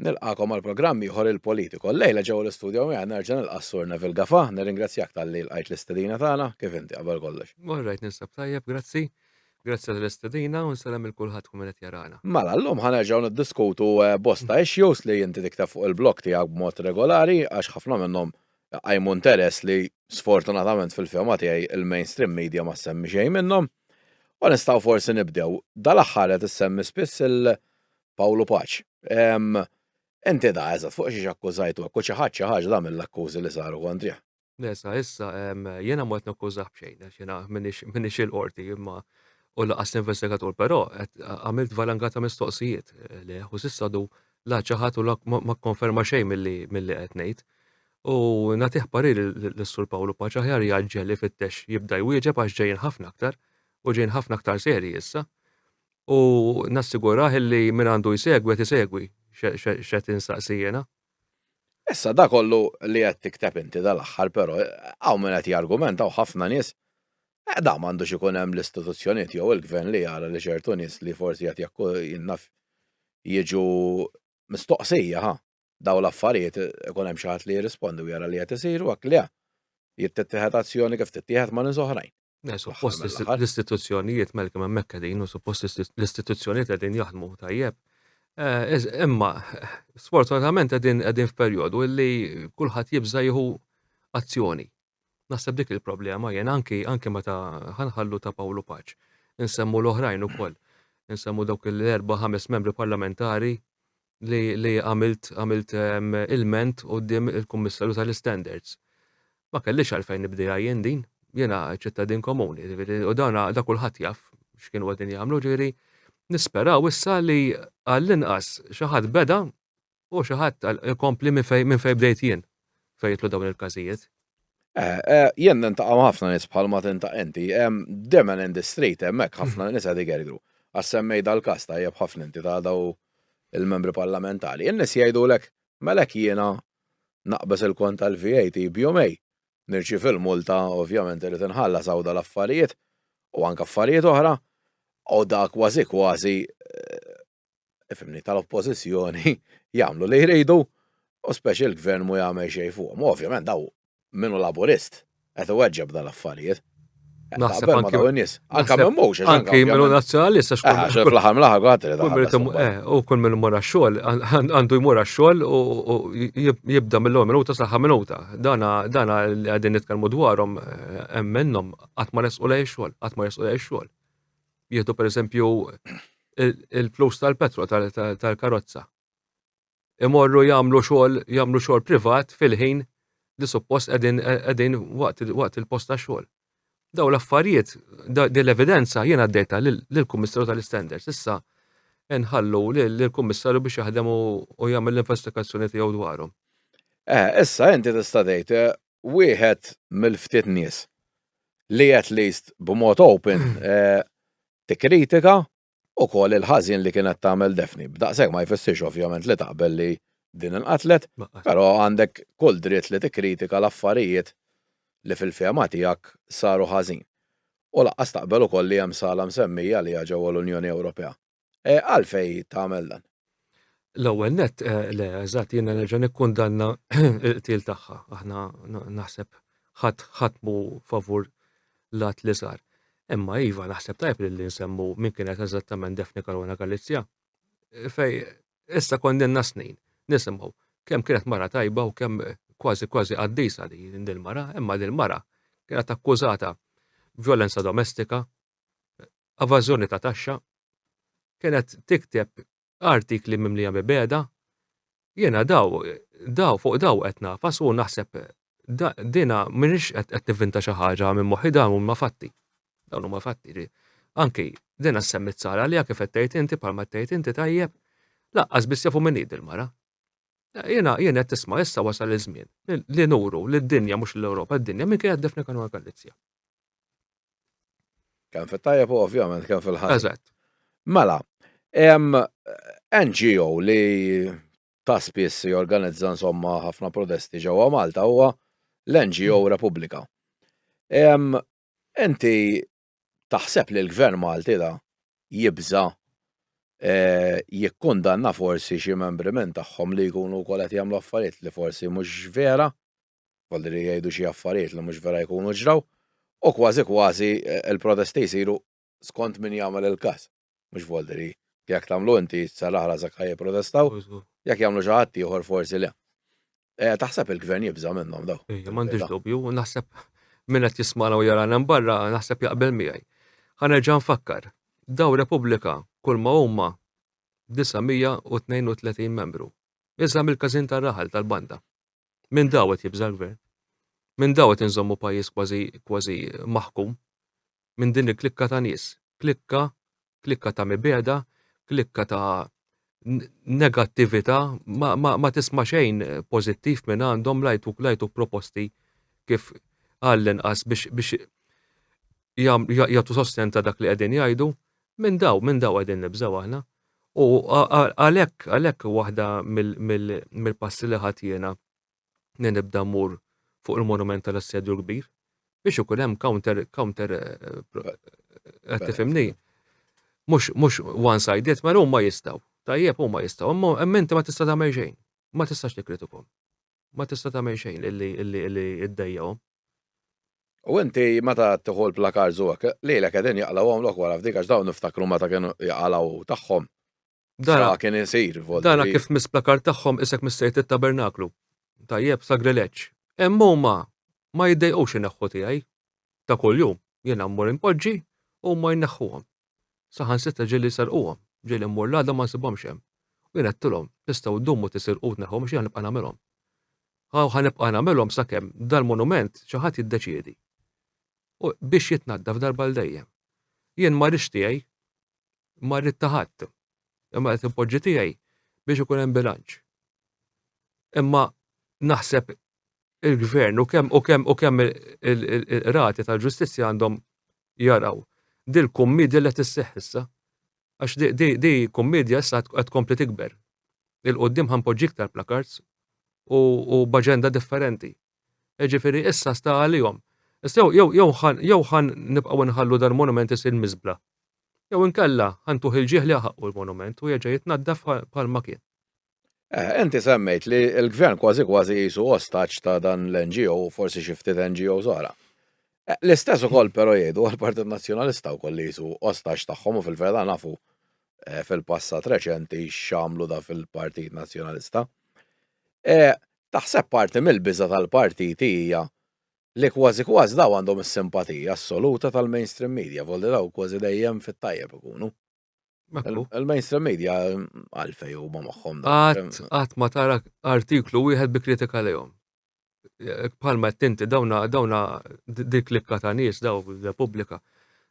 Nilqagħkom għal programm ieħor il-Politico. Llejla ġewwa l-istudio miegħi nerġa' nilqa' s-Sur Neville Gafa. Nirringrazzjak talli lqajt l-istedina tagħna. Kif inti qabel kollox? All right, ninsab tajjeb, grazzi. Grazzi tal-istedina u nsellem lil kulħadd tkun qed jarana. Mela, llum ħa nerġgħu niddiskutu bosta issues li inti tikteb fuq il-blog tiegħek b'mod regolari għax ħafna minnhom iqajmu interess li sfortunatament fil-fehma tiegħi l-mainstream media ma ssemmi xejn minnhom. U nistgħu forsi nibdew. Dal-aħħar qed issemmi spiss il- Pawlu Paċ. Inti da, eżat, fuq xiex akkużajtu, u xi ħadd xi ħaġa da mill-akkużi li saru kontrih. Nesa, issa, jena ma qed nakkużah b'xejn, għax jena minix il-qorti imma u laqas investigatur, però għamilt valanga ta' mistoqsijiet eh, li u sissa du la ċaħat u ma konferma xejn mill-li qed ngħid. U natiħ parir l-Sur Pawlu Paċa ħjar jgħagġel li fittex jibda jwieġeb għax ġejjin ħafna aktar u ġejjin ħafna aktar seri issa. u nassigurah illi min għandu jsegwi qed isegwi x'qed insaqsi jiena. Issa dak kollu li qed tikteb inti dal-aħħar però hawn min qed jargumenta u ħafna nies, eh dan m'għandux ikun hemm l-istituzzjonijiet jew il-Gvern li jara li ċertu nies li forsi qed jaf jiġu Mistoqsija, ha? Dawn l-affarijiet ikun hemm xi ħadd li jirrispondi u jara li qed isiru hekk le? Jrid tittieħed azzjoni kif tittieħed ma' nies oħrajn. Le, suppost l-istituzzjonijiet, Malcolm, hemmhekk qegħdin u suppost l-istituzzjonijiet qegħdin jaħdmu tajjeb. Imma sfortunatament qegħdin f'perjodu li kulħadd jibża' jieħu azzjoni. Naħseb dik il-problema jien anki anki meta ħanħallu ta' Pawlu Paċ. Insemmu l-oħrajn ukoll. Insemmu dawk l-erba' ħames membri parlamentari li, li għamilt għamilt ehm, ilment qudiem il-Kummissarju tal-Standards. Ma kellix għalfejn nibdejha jien din, jiena ċittadin komuni, u dan da kulħadd jaf x'kienu qegħdin jagħmlu, ġifieri nisperaw issa li għall-inqas xi ħadd beda U xi ħadd qal, Inkompli minn fejn bdejt jien, fejn jidħlu dawn il-każijiet. Jien nintaqa' ma' ħafna nies bħalma tintaq inti. Demen in the street hemmhekk ħafna nies qed igergru. Għax semmej dal-każ tajjeb ħafna inti ta' daw il-membri parlamentari. In-nies jgħidulek, mela hekk jiena naqbeż il-kont tal-VAT b'jumejn, nirċievi l-multa, ovvjament irid inħallas hawn dal-affarijiet u anke affarijiet oħra, u da kważi kważi fimni tal-oppożizzjoni jagħmlu li jridu u speċi l-gvern mu jagħmel xejn fuqhom. Ovvjament daw minnu laburist qed iweġġeb dan l-affarijiet. Naħseb anke minn nies. Anke minn mhux. Anke minn nazzjonalist għax kull ah, fl-aħħar mill-aħħar għatri. Eh, u kull minn mora xogħol għandu jmur xogħol u jibda mill-ewwel minuta sa minuta. Dana dana li qegħdin nitkellmu dwarhom eh, hemm minnhom qatt ma resqu lej xogħol, qatt ma resqu lej xogħol. jieħdu per eżempju il-flus tal-petro tal-karozza. Imorru jagħmlu xogħol jagħmlu xogħol privat fil-ħin li suppost qegħdin waqt il-post ta' xogħol. Daw l-affarijiet, din l-evidenza jiena għaddejta lill-Kummissarju tal-Standards. Issa nħallu lill-Kummissarju biex jaħdem u jagħmel l-investigazzjoni tiegħu dwarhom. Eh, issa inti tista' tgħid eh, wieħed mill-ftit nies li at least b'mod open tikkritika wkoll il-ħażin li kienet tagħmel Daphne. B'daqshekk ma jfissirx ovvjament li taqbel li din inqatlet, però għandek kull dritt li tikkritika l-affarijiet li fil-fehma tiegħek saru ħażin. U lanqas taqbel ukoll li hemm sala msemmija għaliha ġewwa l-Unjoni Ewropea. Eh, għalfej tagħmel dan? L-ewwel net, eh, le, eżatt jiena nerġa' nikkundanna il-qtil tagħha. Aħna naħseb ħadd ħatmu favur lat li sar. Imma iva naħseb tajb li nsemmu min kienet eżattament Defni Karona Galizja. Eh, fej issa kondenna snin nisimgħu kemm kienet mara tajba u kemm kważi kważi qaddisa li din mara, imma din mara kienet akkużata violenza domestika, evażjoni ta' taxxa, kienet tikteb artikli mimlija mibeda, jiena daw, daw fuq daw qed nafas u naħseb dina minix qed nivvinta xi ħaġa minn moħħi dawn huma fatti. Dawn huma fatti. Anki dina semmit sara li kif qed tgħid inti bħalma tgħid inti tajjeb, laqqas biss jafu minn il-mara. Jiena jiena qed tisma' issa wasal iż-żmien li nuru lid-dinja mhux l-Ewropa, d-dinja minn kien qed defni kanu Galizja. Kemm fit-tajjeb u ovvjament kemm fil-ħadd. Eżatt. Mela, hemm NGO li ta' spiss jorganizza insomma ħafna protesti ġewwa Malta huwa l-NGO mm. Repubblika. Enti taħseb li l-Gvern Malti da jibża eh, jikkundanna forsi xi membri minn tagħhom li jkunu wkoll qed jagħmlu affarijiet li forsi mhux vera? kolli li jgħidu xi affarijiet li mhux vera jkunu ġraw, u kważi kważi l-protesti jsiru skont min jagħmel il-każ. Mhux volli li jekk tagħmlu inti sa l-aħħar għażek ħa jipprotestaw, jekk jagħmlu xi ħadd ieħor forsi le. Taħseb il-Gvern jibża' minnhom dawn? Iva, m'għandix dubju, u naħseb min qed jismagħna u jarana hemm barra naħseb jaqbel miegħi. Ħa nerġa' nfakkar, dawn Repubblika kulma huma 932 membru. Iżgħar mill-każin tar-raħal tal-banda. Minn daw qed jibża' l-Gvern? Minn daw qed inżommu pajjiż kważi kważi maħkum? Minn din il-klikka ta' nies? Klikka, klikka ta' mibegħda, klikka ta' negattività, ma, ma, ma tisma' xejn pożittiv minn għandhom lajtuk lajtuk proposti kif għall-inqas biex biex jagħtu sosten ta' dak li qegħdin jgħidu, Minn daw, minn daw qegħdin nibżgħu aħna. U għalhekk, għalhekk waħda mill-passi li ħadd jiena li nibda mmur fuq il-monument tal-assedju l-kbir biex ikun hemm counter counter eh, qed tifhimni. Mhux one sided, ma huma jistgħu. Tajjeb huma jistgħu, imma inti ma tista' tagħmel xejn. Ma tistax tikritikom. ma tista' tagħmel xejn illi ddejjaqhom. U inti meta tieħu l-plakards u hekk, lilek qegħdin jaqlgħuhomlok wara f'dik għax dawn niftakru meta kienu jaqalgħu tagħhom. Dara kien isir. Dara kif mis-plakard tagħhom isek missejt it-tabernaklu. Tajjeb, sagrileġġ. Imma huma ma jiddejqux ineħħu tiegħi ta' kuljum. Jiena mmur inpoġġi u huma jneħħuhom. Saħansitra ġieli serquhom, ġieli mmur l-għada ma nsibhomx hemm. U jien għedtilhom, 'Tistgħu ddumu tisirqu u tneħħuhom x'jien ħa nibqa' nagħmilhom. Ħa ħa nibqa' nagħmilhom sakemm dal-monument xi ħadd jiddeċiedi u biex jitnaddaf darba għal dejjem. Jien ma rridx tiegħi, ma rrid ta' ħadd, imma qed inpoġġi tiegħi biex ikun hemm bilanċ. Imma naħseb il-gvern u kemm u kemm u kemm il-qrati tal-ġustizzja għandhom jaraw dil kummedja li qed isseħħ issa. Għax di kummedja issa qed tkompli tikber. Il-qudiem ħanpoġġi iktar plakards u b'aġenda differenti. Ġifieri issa sta għalihom. Issa jew jew jew ħan nibqgħu nħallu dal-monument isir miżbla. Jew inkella ħantuħ il-ġieħ li ħaqqu l-monument u jerġa' jitnaddaf bħal ma kien. Eh, inti semmejt li l-gvern kważi kważi jisu ostaċ ta' dan l-NGO u forsi xi ftit NGO żgħara. Eh, l-istess ukoll però jgħidu għall-Partit Nazzjonalista wkoll li jisu ostaċ tagħhom u fil-verda nafu eh, fil-passat reċenti x'għamlu da fil-Partit Nazzjonalista. Taħseb parti mill-biża tal-partit hija li kważi kważi daw għandhom is-simpatija assoluta tal-mainstream media, volli daw kważi dejjem fit-tajjeb ikunu. Il-mainstream media għalfej u ma maħħom. Għat ma tara artiklu wieħed bi kritika lejhom. Palma t-tinti dawna dawna dik klikka ta' nies daw Repubblika.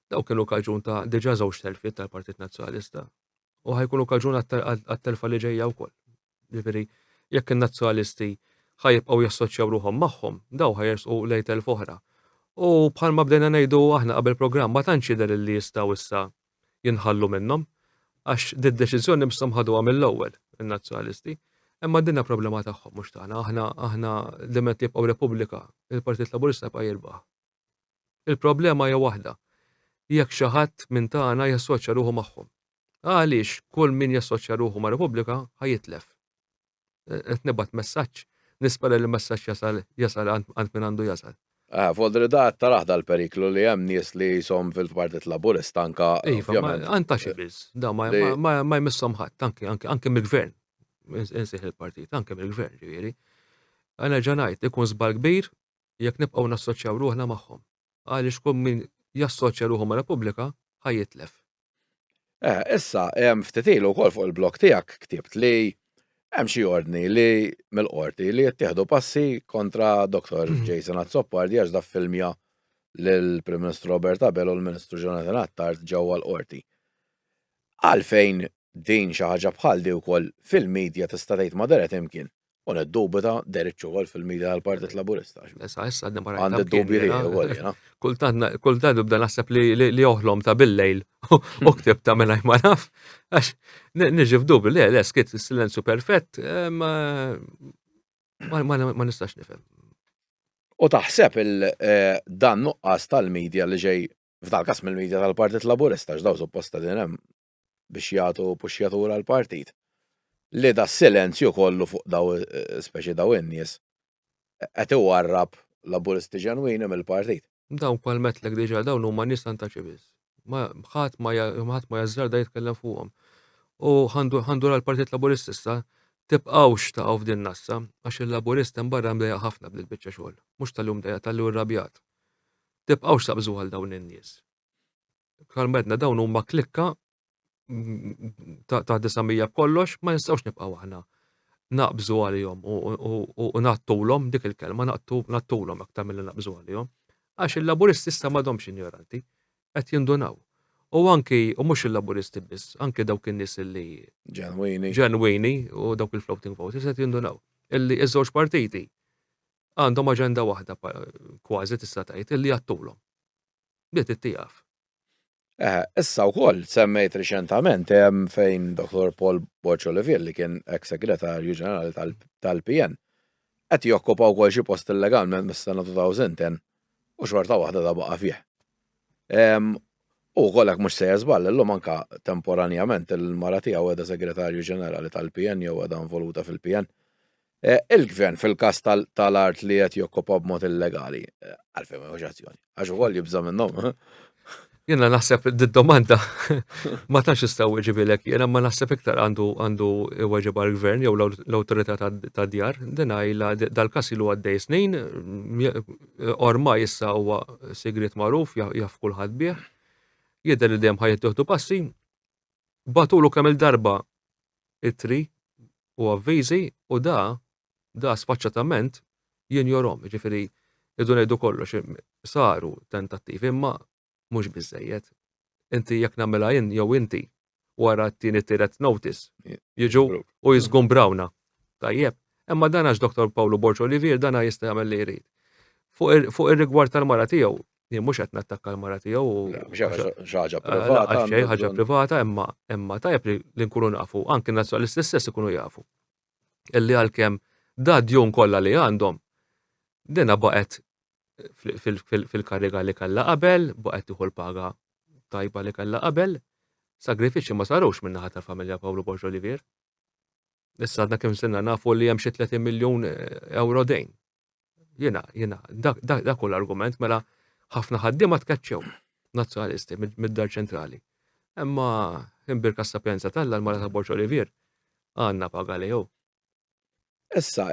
Daw kienu kaġun ta' diġa żewġ telfiet tal-Partit Nazzjonalista. U ħajkunu kaġun għat-telfa li ġejja wkoll. Jiġifieri, jekk in-Nazzjonalisti ħa jibqgħu jassoċjaw ruħhom magħhom, dawn ħa jersqu lejn telf oħra. U bħalma bdejna ngħidu aħna qabel programm ma tantx jidher li jistgħu issa jinħallu minnhom għax did-deċiżjoni misshom ħaduha mill-ewwel in-Nazzjonalisti. Imma dinha problema tagħhom mhux tagħna. Aħna aħna diment jibqgħu Repubblika, il-Partit Laburista jibqa' jirbaħ. Il-problema hija waħda, jekk xi ħadd minn tagħna jassoċja ruħu magħhom. Għaliex kull min jassoċja ruħu ma' Repubblika ħa jitlef. Qed nibgħat messaġġ, nispera li l-messaġġ jasal jasal għand min għandu jasal. Fodrida qed tarah dal-periklu li hemm nies li qishom fil-Partit Laburista anke Iva, ovvjament. ma- għand ta' xi biss, da ma, Li- ma, ma, ma jmissom ħadd, anke, anke, anke mill-gvern. Ins- Insih il-partit, anke mill-gvern, ġifieri. Għana ġanajt, ikun żball kbir jekk nibqgħu nassoċjaw ruħna magħhom, għaliex kull min jassoċja ruħu ma' Repubblika ħa jitlef. Eh, issa, ftit ilu wkoll fuq il-blog tiegħek ktibt li hemm xi ordni li mill-qorti li jittieħdu passi kontra Dr. Mm. Jason Azzopardi għax da filmja l-Prim Ministru Robert Abel u l-Ministru Jonathan Attard ġewwa l-qorti. Għalfejn din xi ħaġa bħal di wkoll fil-medja tista' tgħid ma deret imkien. U niddubita Derek Chowal fil-mira għal-Partit Laburista. Issa, issa, għadna barra. Għandi d-dubi li għolina. Kultant, kultant nibda naħseb li oħlom ta' bil-lejl u ktib ta' mela ma naf. Għax, nġi f'dubi li għal eskit silenzju perfett, eh, ma nistax nifem. U taħseb eh, dan nuqqas tal-medja li ġej f'dal kas mill-medja tal-Partit Laburista, x'daw supposta din hemm biex jagħtu puxxjatura l-partit li da silenzju kollu fuq daw speċi daw in-nies qed iwarrab Laburisti ġenwini mill-partit. Dawn palmetlek diġà dawn huma nies antaċi biss. Ma ħadd ma ħadd ma jażżarda jitkellem fuqhom. U ħandu l partit Laburist issa tibqgħux taqgħu f'din nassa għax il-Laburist hemm barra mdejjaq ħafna b'dil biċċa xogħol. Mhux tal-li hu mdejjaq tal-li hu rrabjat. Tibqgħux taqbżu għal dawn in-nies. bħal medna dawn huma klikka ta' 900 kollox ma nistgħux nibqgħu aħna naqbżu għalihom u nattulhom dik il-kelma nattulhom aktar mill naqbżu għalihom. Għax il-laburisti issa m'għadhomx injoranti, qed jindunaw. U anki, u mhux il-laburisti biss, anki dawk in-nies li. Ġenwini. Ġenwini u dawk il-floating voters qed jindunaw. Illi iż-żewġ partiti għandhom aġenda waħda kważi tista' tgħid illi jattulhom. bdiet ittieqaf. Issa wkoll semmejt riċentament hemm fejn Dottor Paul Borg Olivier li kien ex Segretarju Ġenerali tal-PN qed jokkupa wkoll xi post illegalment mis-sena 2010 u xorta waħda ta' baqa' fih. U wkoll hekk mhux sejjer żball illum anke temporanjament il-mara tiegħu qiegħda Segretarju Ġenerali tal-PN jew qiegħda involuta fil-PN. Il-Gvern fil-każ tal-art li qed jokkupa b'mod illegali, għalfejn ma jieħux azzjoni? Għax ukoll jibża' minnhom? Jiena naħseb d-domanda ma tantx nista' weġibilek jiena ma naħseb iktar għandu għandu weġibha l-gvern jew l-awtorità tad-djar. Din għajla dal-każ ilu għaddej snin, ormai issa huwa sigriet magħruf jaf kulħadd bih. Jidher li dejjem ħa jittieħdu passi. bagħtulu kemm-il darba ittri u avviżi u da, da sfaċċatament jinjorhom. Jiġifieri rridu ngħidu kollox, saru tentattivi imma mhux biżżejjed. Inti jekk nagħmilha jien jew inti wara t-tieni tielet notice jiġu u jiżgumbrawna. Tajjeb. Imma dan għax Doktor Pawlu Borg Olivier dan jista' jagħmel li jrid. Fuq ir-rigward tal-mara tiegħu, Jien mhux qed nattakka l-mara tiegħu u. ħaġa eh, privata. Xejn ħaġa privata imma imma tajjeb li nkunu nafu, anke nazzjonalisti stess ikunu jafu. Illi għalkemm da djun kollha li għandhom dina baqgħet fil-kariga li kellha qabel, baqgħet tieħu l-paga tajba li kellha qabel, sagrifiċċji ma sarux minn naħa tal-familja Pawlu Borġ Olivier. Issa għadna kemm sinna nafu li hemm xi 30 miljun eh, euro dejn Jena, jena, dak u l-argument mela ħafna ħaddiema tkeċċew nazzjonalisti mid-dar ċentrali. Imma imbirka s-sapjenza tal l-mara ta' Borċ Olivier għanna paga li jew. Issa,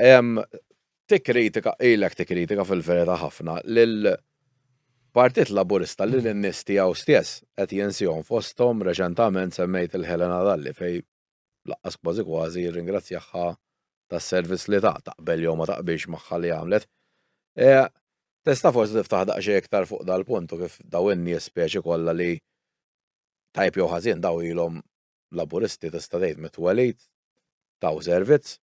tikkritika, ilek tikkritika fil-verita ħafna lil Partit Laburista li l-nis tiegħu stess qed jinsihom fosthom reċentament semmejt il-Helena Dalli fej lanqas kważi kważi jirringrazzjahha tas-servizz li tat, taqbel jew ma taqbilx magħha li għamlet. Tista' forsi tiftaħ daqsxejn iktar fuq dal-punt u kif dawn in-nies speċi kollha li tajjeb jew ħażin dawn ilhom Laburisti tista' tgħid mit-twelid, taw servizz,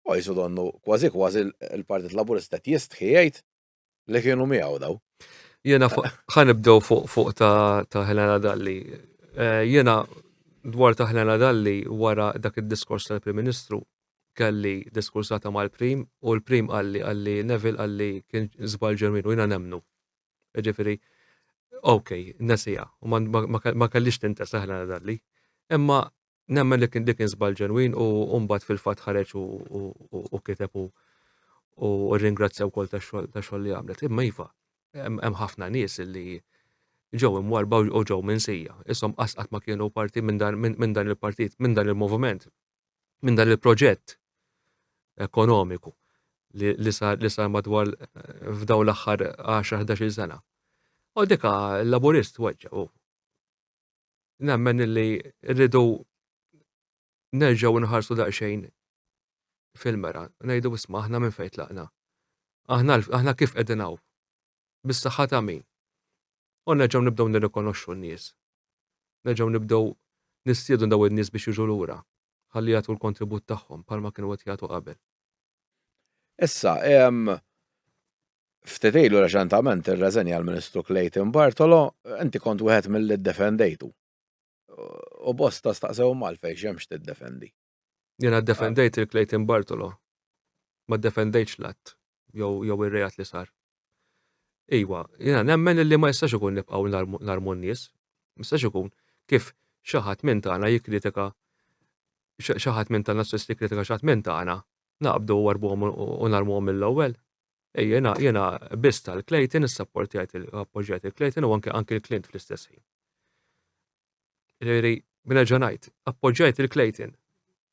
u qisu donnu kważi kważi l-Partit Laburista qed jistħi jgħid li kienu miegħu daw. Jena ħanibdew fuq fuq ta' Helena Dalli. Eh, jena dwar ta' Helena Dalli wara dak id-diskors tal-Prim Ministru kelli diskursata mal-Prim u l-Prim għalli għalli Neville għalli kien zbal ġermin u jena nemnu. Ġifiri, ok, nesija, u ma kellix tintesa Helena Dalli. Imma Nemmen li kien dik kien żball ġenwin u mbagħad fil-fatt ħareġ u kiteb u u ringrazzja wkoll ta' xogħol li għamlet. Imma iva, hemm ħafna nies li ġew imwarba u ġew minsija. Isom qasqat ma kienu parti minn dan il-partit, minn dan il-moviment, minn dan il-proġett ekonomiku li sar madwar f'daw l-aħħar 10-11 sena. U dika l-laburist weġġa u nemmen illi rridu nerġgħu nħarsu daqsxejn fil-mera, ngħidu isma' aħna minn fejn tlaqna. Aħna aħna kif qegħdin hawn? Bis-saħħa ta' min? U nerġgħu nibdew nirrikonoxxu n-nies. Nerġgħu nibdew nistiedu daw in-nies biex jiġu lura ħalli jagħtu l-kontribut tagħhom bħalma kienu qed jagħtu qabel. Issa, Ftit ilu reċentament irreżenja l-Ministru Clayton Bartolo, inti kont wieħed milli ddefendejtu. U bosta staqsew malfejn x'hemmx tiddefendi. Jiena ddefendejt il Clayton Bartolo. Ma ddefendejtx l-att jew ir-reat li sar. Iwa, jiena nemmen li ma jistax ikun nibqgħu narmu n-nies. Ma jistax ikun kif xi ħadd minn tagħna jikkritika xi ħadd minn tagħna stess jikkritika xi ħadd minn tagħna, naqbdu warbuhom u narmuhom mill-ewwel. Jiena, jiena biss tal-Clayton, issapportjajt appoġġjajt il-Clayton u anke anke l-Clint fl-istess ħin. Ġifieri, b'nerġa' ngħid, appoġġjajt il-Clayton.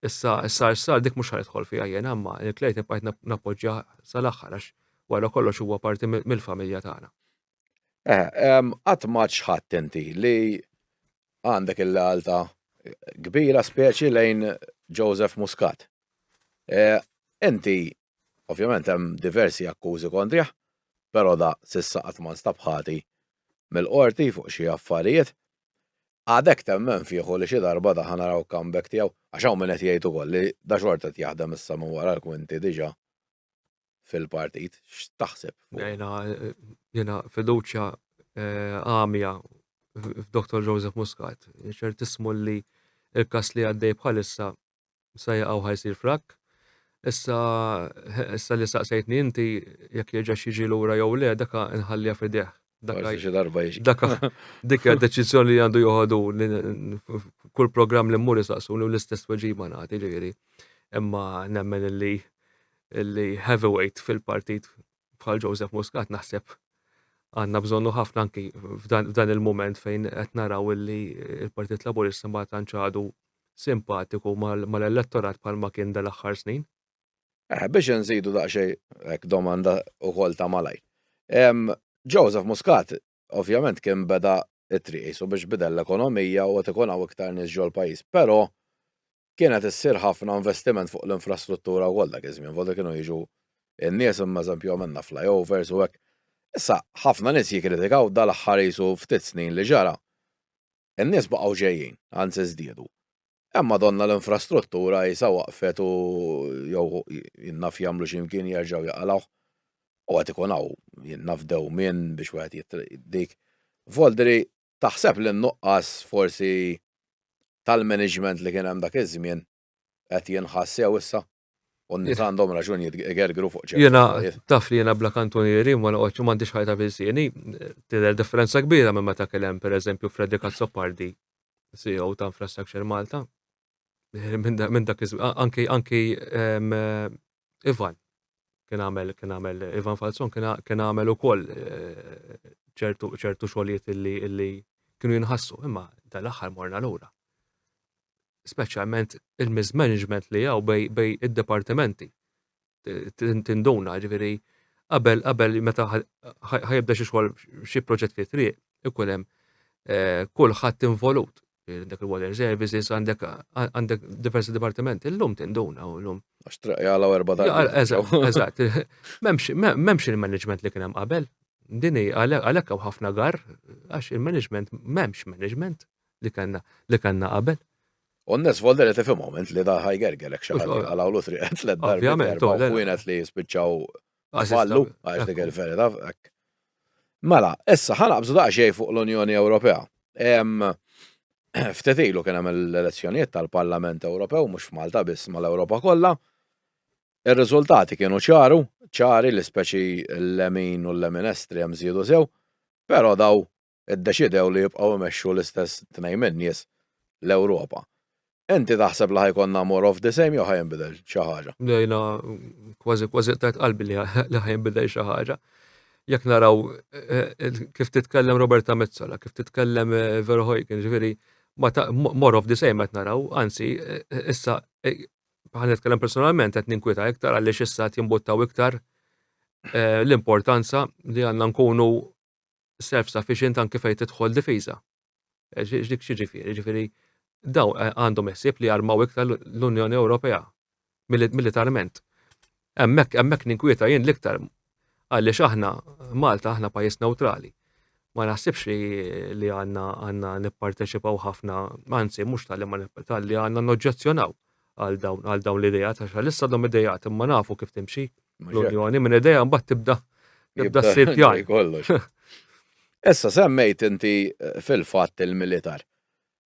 Issa issa issa dik mhux ħanidħol fiha jiena, imma il-Clayton bqajt nappoġġja sal-aħħar għax wara kollox huwa parti mill-familja tagħna. Eh, qatt ma ċħadd inti li għandek il-lealta kbira speċi lejn Joseph Muscat. Eh, inti Ovvjament hemm diversi akkużi kontrih, però da s'issa qatt ma nstab ħati mill-Qorti fuq xi affarijiet. Għadek temmen fih u li xi darba da ħa naraw comeback tiegħu? Għax hawn min qed jgħid ukoll li da xorta qed jaħdem issa minn wara l-kwinti diġà fil-partit. X'taħseb? Jiena jiena fiduċja għamja f'Doktor Joseph Muscat. Ċertissimu li l-każ li għaddej bħalissa sa jaqaw ħa jsir frakk. Issa issa li saqsejtni inti jekk jerġax jiġi lura jew le daka nħallija fideh. Daka xi darba jiġi. Daka dik hija deċiżjoni li għandu joħodu kull programm li mmur isaqsuni u l-istess weġiba nagħti ġifieri. Imma nemmen li li heavyweight fil-partit bħal Joseph Muscat naħseb għandna bżonnu ħafna anki f'dan il-mument fejn qed naraw illi il-Partit Laburista ma tantx għadu simpatiku mal-elettorat bħalma kien dal-aħħar snin. Eh, biex nżidu daqsxejn hekk domanda ukoll ta' malaj. Joseph Muscat ovvjament kien beda t-triq qisu biex bidel l-ekonomija u qed ikun hawn iktar nies ġol pajjiż. Però kien qed issir ħafna investiment fuq l-infrastruttura wkoll dak iż-żmien, vota kienu jiġu n-nies imma eżempju għamilna flyovers u hekk. Issa ħafna nies jikkritikaw dal-aħħar qisu ftit snin li ġara. In-nies baqgħu ġejjin, anzi żdiedu. Hemm madonna l-infrastruttura qisha waqfet u jew jien naf jagħmlu xi mkien jerġgħu jaqalgħuh. U qed ikun hawn jien naf dewmien biex wieħed dik. Voldri, taħseb li n-nuqqas forsi tal-management li kien hemm dak iż-żmien qed jinħass sew issa? U n-nies għandhom raġun jitgergru fuq ċertu. Jena, taf li jena bla kantonieri, ma noqgħodx u m'għandix ħajta fil-sieni, tidher differenza kbira minn meta kien hemm pereżempju Freddy Kazzopardi, CEO ta' Infrastructure Malta. Eh, minn dak anki anki eh, Ivan kien għamel kien għamel Ivan Falzon kien għamel ukoll eh, ċertu ċertu xogħlijiet illi kienu jinħassu, imma tal-aħħar morna lura. speċjalment il-mismanagement li hawn bej bej id-dipartimenti. Tinduna, ġifieri qabel qabel meta ħajibda xi xogħol xi proġett fi triq ikun hemm eh, kulħadd involut dak il-water services għandek għandek diversi dipartimenti illum tinduna u llum. Għax traq jala erba darba. Eżatt, m'hemmx il-management li kien hemm qabel. Dini għalhekk hawn ħafna gar għax il-management m'hemmx management. li kellna li kellna qabel. U n-nies volli li tifhim moment li da ħajgergerek xi ħadd jaqalgħu triqet tliet darbi darba u kienet li jispiċċaw fallu għax dik il-verità hekk. Mela, issa ħanaqbżu daqsxejn fuq l-Unjoni Ewropea. Ftit ilu kien hemm l-elezzjonijiet tal-Parlament Ewropew mhux f'Malta biss mal-Ewropa kollha. Ir-riżultati kienu ċaru, ċari li speċi l-lemin u l-lemin estrem żiedu sew, però daw iddeċidew li jibqgħu imexxu l-istess tnejn min-nies l-Ewropa. Inti taħseb li ħa jkollna more of the same jew ħa jinbidel xi ħaġa? Jiena kważi kważi qtajt qalbi li ħa jinbidel xi ħaġa. Jekk naraw kif titkellem Roberta Metsola, kif titkellem Verhoeken, ġifieri more of the same qed naraw, anzi issa bħal nitkellem personalment qed ninkwita iktar għaliex issa qed jimbuttaw iktar l-importanza li għandna nkunu self-sufficient anke fejn tidħol difiża. Dik xi ġifieri, ġifieri daw eh, għandhom ħsieb li jarmaw iktar l-Unjoni Ewropea militarment. Hemmhekk hemmhekk ninkwieta jien l-iktar għaliex aħna Malta aħna pajjiż neutrali. Ma naħsibx li li għandna għandna nipparteċipaw ħafna, anzi mhux tal-li ma tal-li għandna noġġezzjonaw għal dawn għal dawn l-idejat għax għalissa dom idejat imma nafu kif timxi l-Unjoni minn idea mbagħad tibda tibda ssir pjan. Kollox. Issa semmejt inti eh, fil-fatt il-militar.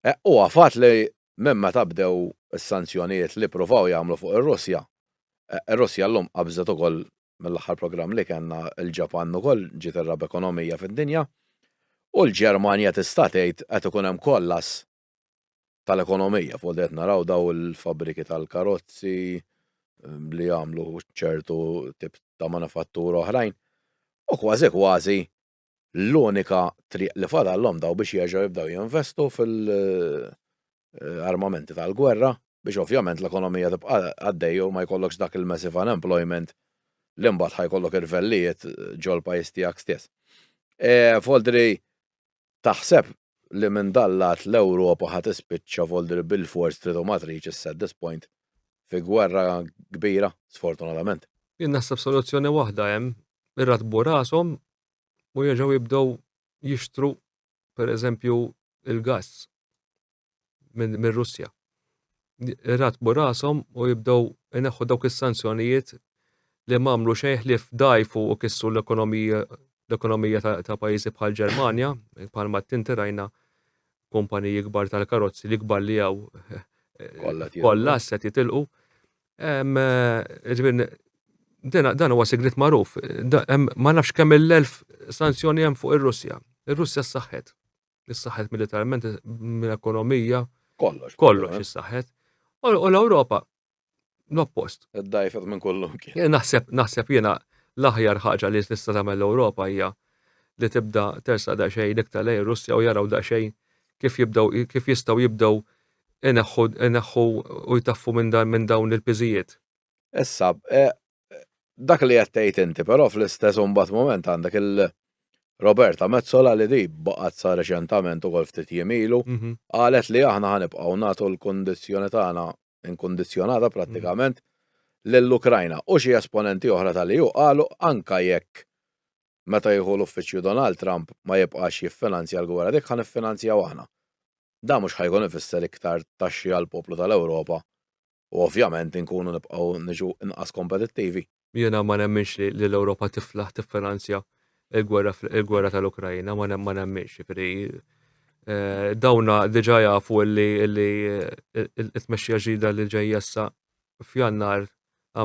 Eh, u għafat li minn meta bdew is-sanzjonijiet li provaw jagħmlu fuq ir-Russja, eh, ir-Russja llum qabżet ukoll mill-aħħar programm li kellna il-Ġapan ukoll ġiet ir-rab ekonomija fid-dinja u l-Ġermanja tista' tgħid qed ikun hemm kollas tal-ekonomija, fuq qed naraw daw il-fabbriki tal-karozzi ehm, li jagħmlu ċertu tip ta' manifattura oħrajn, u kważi kważi l-unika triq li fadallhom daw biex jerġgħu jibdew jinvestu fil-armamenti eh, tal-gwerra biex ovvjament l-ekonomija tibqa' għaddej u ma jkollokx dak il-massive unemployment li mbagħad ħajkollok irvellijiet ġol pajjiż tiegħek stess. E, Foldri, Taħseb li minn dal-lat l-Ewropa ħa tispiċċa volli li bilfors trid u ma tridx is-saddispoint fi gwerra kbira, sfortunatament? Jien naħseb soluzzjoni waħda hemm, iratbu rashom u jerġgħu jibdew jixtru pereżempju l-gass. mir-Russja. Iratbu rashom u jibdew ineħħu dawk is-sanzjonijiet li ma għamlu xejn ħlief dajfu u kissu l-ekonomija l-ekonomija ta' pajjiżi bħal Ġermanja, bħal ma tinti rajna kumpaniji kbar tal-karozzi li kbar li għaw kollha se titilqu. Ġbin, dan huwa sigrit magħruf. Ma nafx kemm il-elf sanzjoni hemm fuq ir-Russja. Ir-Russja s-saħħet. issaħħet militarment, mill-ekonomija. Kollox. Kollox issaħħet. U l-Ewropa l-oppost. Id-dajfet minn kollu. Naħseb, naħseb jiena l-aħjar ħaġa li tista' tagħmel l-Ewropa hija li tibda tersa da xejn iktar lej Russja u jaraw da xejn kif jibdew kif jistgħu jibdew ineħħu u jtaffu minn dawn il-piżijiet. Issa, eh, dak li qed tgħid inti, però fl-istess imbagħad mument għandek il- Roberta Mezzola li di baqgħet sa reċentament ukoll ftit jimilu, mhm. qalet li aħna ħanibqgħu nagħtu l-kondizzjoni tagħna inkondizzjonata prattikament mhm. lill-Ukrajna u xi esponenti oħra tal-EU qalu anka jekk meta jieħu l-uffiċċju Donald Trump ma jibqax jiffinanzja l-gwerra dik ħan iffinanzjaw aħna. Da mhux ħajkun ifisser iktar taxxi għall poplu tal-Ewropa u ovvjament inkunu nibqgħu niġu inqas kompetittivi. Jiena ma nemminx li l-Ewropa tiflaħ tiffinanzja l-gwerra tal-Ukraina, ma nemminx, jiġifieri eh, dawna diġà jafu li t-tmexxija ġdida li ġejjessa f'Jannar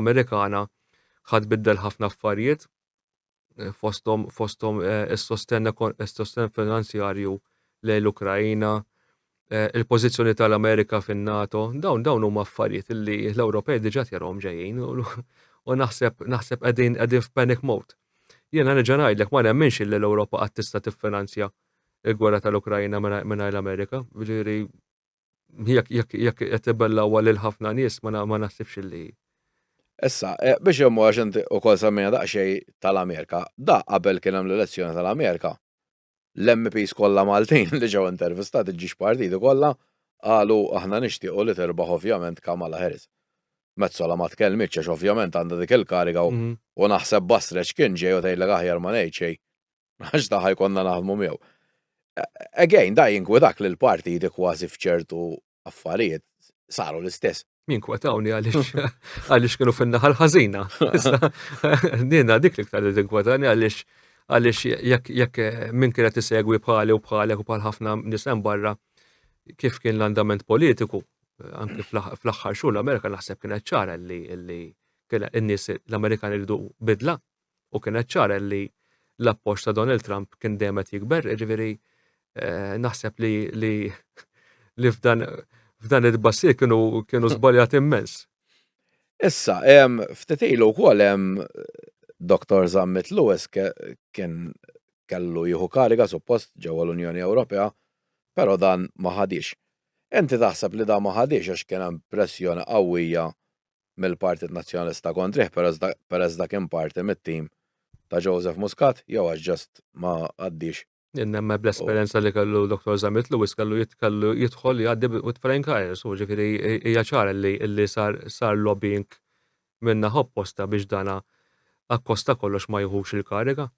Amerikana ħad biddel ħafna affarijiet fosthom fosthom is-sostenn is-sostenn finanzjarju lejn l-Ukraina, il-pożizzjoni tal-Amerika fin-NATO, dawn dawn huma affarijiet li l-Ewropej diġà tjarhom ġejjin u naħseb naħseb qegħdin qegħdin f'panic mode. Jiena nerġa' ngħidlek ma nemminx li l-Ewropa qatt tista' tiffinanzja il-gwerra tal-Ukraina mingħajr l-Amerika, jiġifieri jekk jekk jekk qed ibellgħuha lil ħafna nies ma naħsibx illi. Issa, eh, biex hemm għax inti wkoll semmejna daqsxejn tal-Amerika, da qabel kien hemm l-elezzjoni tal-Amerika. L-MPs kollha Maltin li ġew intervistati ġiex partiti kollha qalu aħna nixtiequ li terbaħ ovvjament Kamala Harris. Mezzola ma tkellmitx għax ovvjament għandha dik il-kariga u mhm. naħseb basreċ kien ġej u tgħidlek aħjar ma ngħid xejn. għax daħħa jkonna naħdmu miegħu. Again, da jinkwetak li l-partiti kważi fċertu affarijiet saru l-istess. Jinkwetawni għalix għalix kienu fin-naħal ħażina. Nina dik li ktar jinkwetani għalix għalix jekk minn kienet isegwi bħali u bħalek u bħal ħafna nisem barra kif kien l-andament politiku, anki fl-axħar xhur l-Amerika naħseb kienet ċara li kien in-nies l-Amerikan irridu bidla, u kienet ċara li l-appoġġ ta' Donald Trump kien dejjem qed jikber, jiġifieri eh, naħseb li li li f'dan f'dan id-bassir kienu kienu żbaljat immens. Issa, hemm ftit ilu wkoll hemm Dr. Zammit Lewis kien kellu jieħu kariga suppost ġewwa l-Unjoni Ewropea, però dan ma ħadix. Inti taħseb li dan ma ħadix għax kien hemm pressjoni qawwija mill-Partit Nazzjonalista kontrih peress dak kien parti mit-tim ta' Joseph Muscat jew għax just ma għaddiex? Jien nemmen bl-esperjenza li kellu Dottor Zammit Lewis kellu kellu jidħol jgħaddi with flying colours u ġifieri hija ċara li li sar sar lobbying min-naħa opposta biex dana akkost ta' kollox ma jieħux il-kariga.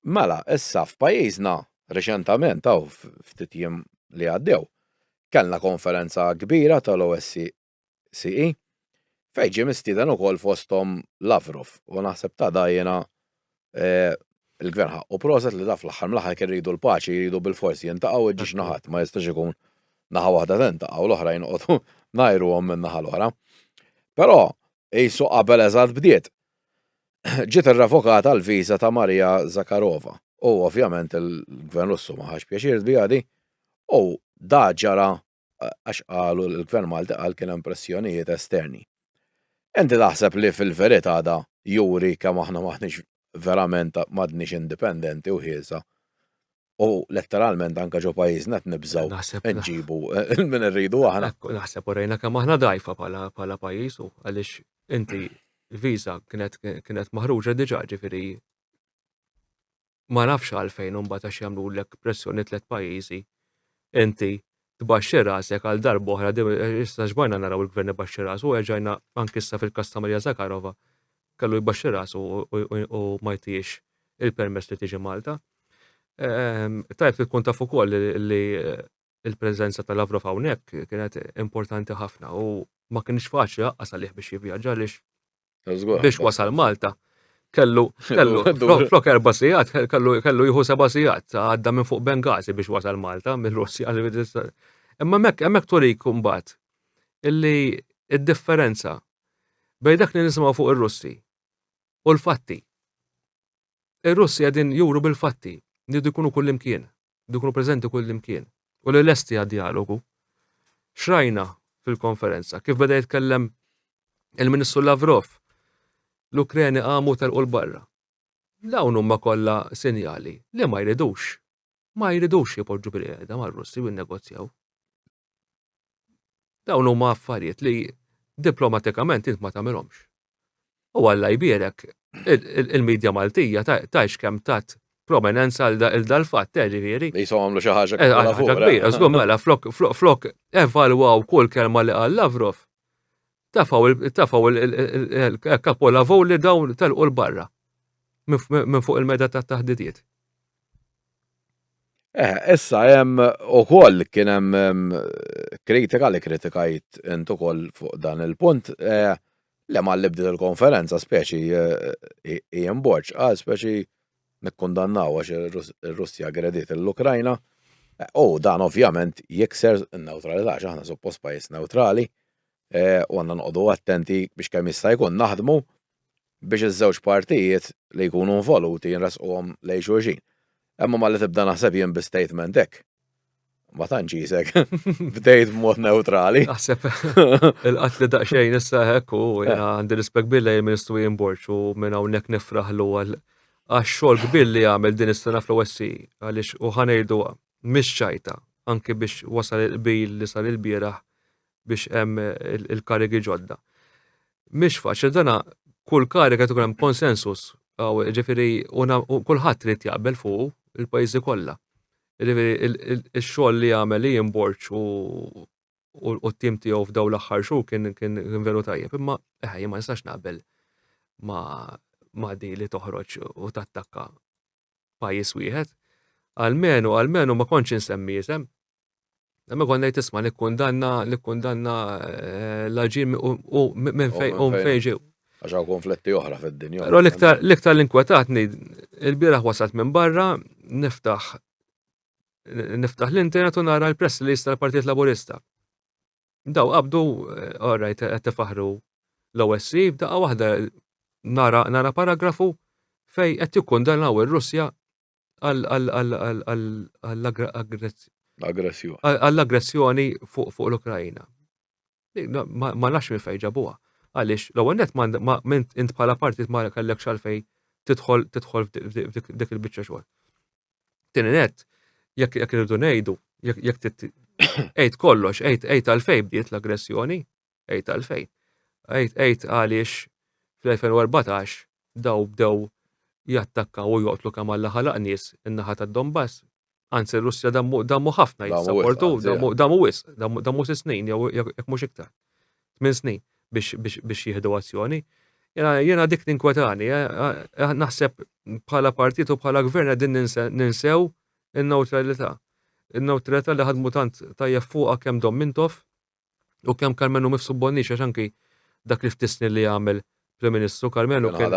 Mela, issa f'pajjiżna reċentament hawn ftit jiem li għaddew kellna konferenza kbira tal-OSCE CE, fejn ġie mistieden ukoll fosthom Lavrov u naħseb ta' dajjena l-Gvern ħaqqu proset li dan fl-aħħar mill-aħħar jekk irridu l-paċi jridu bilfors jintaqgħu iġġiex naħat ma jistax ikun naħa waħda tintaqgħu u l-oħra jinqogħdu ngħajruhom min-naħa l-oħra. Però qisu qabel eżatt bdiet. Ġiet irrevokata l-viża ta' Maria Zakharova u ovvjament il-Gvern Russu ma ħax pjaċir biha di u da ġara għax qalu l-Gvern Malti qal kien hemm pressjonijiet esterni. Inti taħseb li fil-verità da juri kemm aħna maħniex verament m'għadniex indipendenti u ħiesa u letteralment anke ġo pajjiżna qed nibżgħu nġibu minn irridu aħna. Naħseb u rejna kemm aħna dgħajfa bħala pajjiż u għaliex inti l-viża kienet maħruġa diġà ġifieri ma nafx għalfejn imbagħad għax jagħmlulek pressjoni tliet pajjiżi inti tbaxxi rasek għal darb'oħra issa xbajna naraw il-gvern ibaxxi rasu erġajna anki issa fil-każ ta' Maria Zakharova kellu jbaxxi rasu u ma jtihiex il-permess li tiġi Malta. Ehm, tajb li tkun taf ukoll li eh, il-preżenza ta' Lavrov hawnhekk kienet importanti ħafna u ma kienx faċli laqqas għalih biex jivvjaġġa għaliex biex wasal Malta kellu kellu flok erba' sigħat kellu kellu jieħu seba' sigħat għadda minn fuq Bengazi biex wasal Malta mill-Russja Imma hemmhekk hemmhekk turik imbagħad illi id-differenza bejn dak li nisimgħu fuq ir-Russi u l-fatti. Ir-Russi qegħdin juru bil-fatti li jkunu kullimkien. li jkunu preżenti kullimkien u li lesti għad-djalogu. X'rajna fil-konferenza? Kif beda jitkellem il-Ministru Lavrov, l-Ukreni qamu telqu l-barra. Dawn huma kollha sinjali li ma jridux ma jridux jipoġġu bil-qiegħda mar-Russi u jinnegozjaw. Dawn huma affarijiet li diplomatikament int ma tagħmilhomx. U Alla jbierek, il-medja Maltija tajx kemm tat prominenza għal dal-fatt, eh, ġifieri. Li jisom għamlu xi ħaġa eh, kbira. Ħaġa kbira, żgur mela, flok evalwaw kull kelma li qal Lavrov, Tafaw tafaw il-kapolavou li dawn telqu l-barra minn fuq il-meda ta' taħdidiet. Eh, issa hemm ukoll kien hemm kritika li kritikajt int ukoll fuq dan il-punt eh, li ma libdet il-konferenza speċi eh, Ian Borċ qal speċi nikkundannaw għax ir-Russja gredit l-Ukrajna. U dan ovvjament jikser n-neutralità, aħna suppost pajjiż neutrali. u għandna noqogħdu attenti biex kemm jista' jkun naħdmu biex iż-żewġ partijiet li jkunu involuti nresquhom lejn xulxin. Imma malli tibda naħseb jien bi statement hekk, ma tantx qisek bdejt b'mod newtrali. Naħseb il-qatli daqsxejn issa hekk u għandi rispett kbir lejn il-Ministru Ian Borg u minn hawnhekk nifraħlu għal għax-xogħol kbir li għamel din is-sena fl-OSCE għaliex u ħa ngħiduha mhix ċajta anki biex wasal il-qbil li sar ilbieraħ biex hemm il-karigi ġodda. Mhix faċli dana kull kariga tkun hemm konsensus, ġifieri kulħadd trid jaqbel fuq il-pajjiżi kollha. Ġifieri x-xogħol li għamel li jimborċ u u t-tim tiegħu f'daw l-aħħar xhur kien kien veru tajjeb, imma eħe ma nistax naqbel ma ma di li toħroġ u tattakka pajjiż wieħed, almenu, almenu ma kontx insemmi isem. Imma kont ngħid isma' nikkundanna nikkundanna eh, l-aġir u minn fejn u fejn ġew. Għax hawn konfletti oħra fid-dinja. Però l-iktar l-iktar l-inkwetatni il-bieraħ wasalt minn barra niftaħ niftaħ l-internet u nara l-press li jista' l-Partit Laburista. Daw qabdu, orrajt, qed tifaħru l-OSCE, f'daqqa waħda nara, nara paragrafu fej qed jikkundannaw ir-Russja għall-aggressjoni fuq l-Ukrajina. Ma nafx minn fejn ġabuha. Għaliex l-ewwel net ma int bħala partit ma kellek xalfej tidħol tidħol f'dik il-biċċa xogħol. Tieni net, jekk jekk irridu ngħidu, jekk jekk tit għid kollox, għid għid għalfejn bdiet l-aggressjoni, għid għalfejn. Għid għid għaliex fl-2014 daw bdew jattakkaw u joqtlu kemm Alla ħalaq nies in-naħa tad-Donbass. Anzi r-Russja dammu dammu ħafna Dammu wisq, jissapportu, anzi, dammu dammu wisq, dammu dammu sitt snin jew jekk jekk mhux iktar. tmien snin biex jieħdu azzjoni. Jena dik ninkwetani, eh, eh, eh, naħseb bħala partit u bħala gvern għedin ninsew il-neutralità. Il-neutralità li ħadmu tant tajjeb fuqa kem dom mintof u kem Karmenu mifsu bonni għax anki dak li ftisni li għamil Prim Ministru Karmenu kien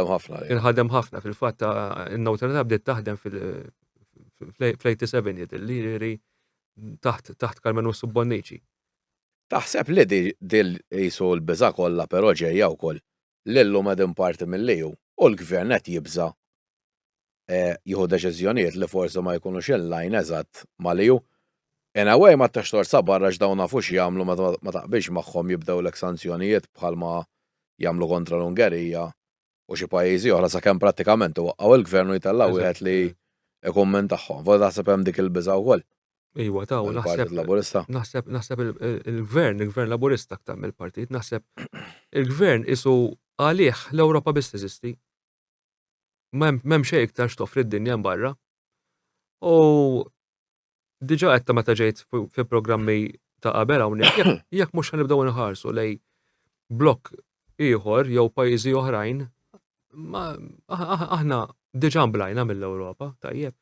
ħadem ħafna fil-fatt il-neutralità bdiet taħdem fil-87 jidilli taħt Karmenu Subbonnici. Taħseb li dil qisu l-biża' kollha però ġejja wkoll li llum qegħdin parti mill-EU u l-Gvern qed jibża' jieħu deċiżjonijiet li forsi ma jkunux in line eżatt mal-EU? In a way ma tix tort sa barra għax dawn nafu x'jagħmlu meta ma taqbilx magħhom jibdewlek sanzjonijiet bħalma jagħmlu kontra l-Ungerija u xi pajjiżi oħra sakemm prattikament iwaqqgħu il-gvern u jtellgħu wieħed li ikun minn tagħhom. Forsi taħseb hemm dik il-biża' wkoll. Iva, ta' u naħseb. Laburista. Naħseb, naħseb il-gvern, il-gvern laburista aktar mill-partit, naħseb il-gvern isu għalih l-Ewropa biss teżisti. M'hemm xejn iktar x'toffri d-dinja barra. U diġa għetta meta ġejt fi programmi ta' qabel hawnhekk, jekk mhux ħanibdew nħarsu lej blok ieħor jew pajjiżi oħrajn, aħna diġa mblajna mill-Ewropa, tajjeb.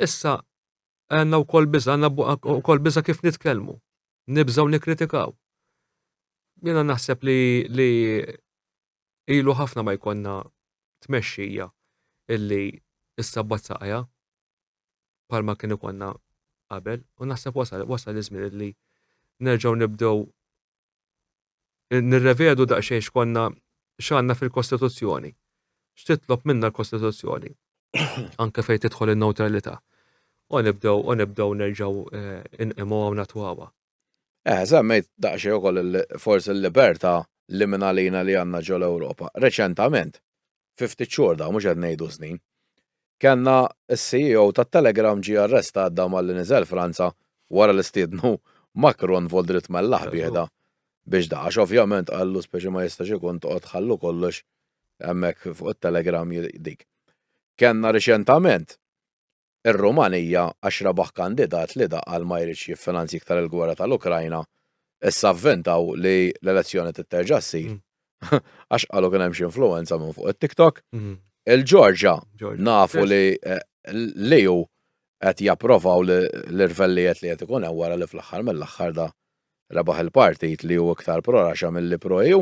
Issa għandna wkoll biża, għandna wkoll biża kif nitkellmu, nibżgħu nikkritikaw. Jiena naħseb li li ilu ħafna ma jkollna tmexxija illi issa bazzaqja bħalma kien ikollna qabel u naħseb wasal wasal iż-żmien li nerġgħu nibdew nirrevedu daqsxejn x'konna x'għandna fil-Kostituzzjoni. X'titlob minna l-Kostituzzjoni. Anke fejn tidħol in-neutralità. U nibdew u nibdew nerġgħu eh, inqimgħu hawn natwawa. Żammejt daqsxejn ukoll forsi l-libertà li mingħalina li għandna ġol-Ewropa. Reċentament, fi ftit xhur dawn mhux qed ngħidu snin, kellna s-CEO tat-Telegram ġie arrestat dawn malli niżel Franza wara li stiednu Macron Voldrit Mellagħ bieħda biex da għax ovvjament qallu speċi ma jistax ikun toqgħod tħallu kollox hemmhekk fuq it-Telegram dik. Kellna riċentament Ir-Rumanija għax rebaħ kandidat li daqqal ma jridx jiffinanzja iktar il-gwerra tal-Ukrajna, issa vventaw li l-elezzjoni trid terġa' ssir għax qalu kien hemm xi influwenza minn fuq it-TikTok. Il-Ġorġja nafu li li hu qed japprovaw l-irvellijiet li qed ikun hemm wara li fl-aħħar mill-aħħar da rebaħ il-partit li hu iktar pro-Russia milli pro-EU.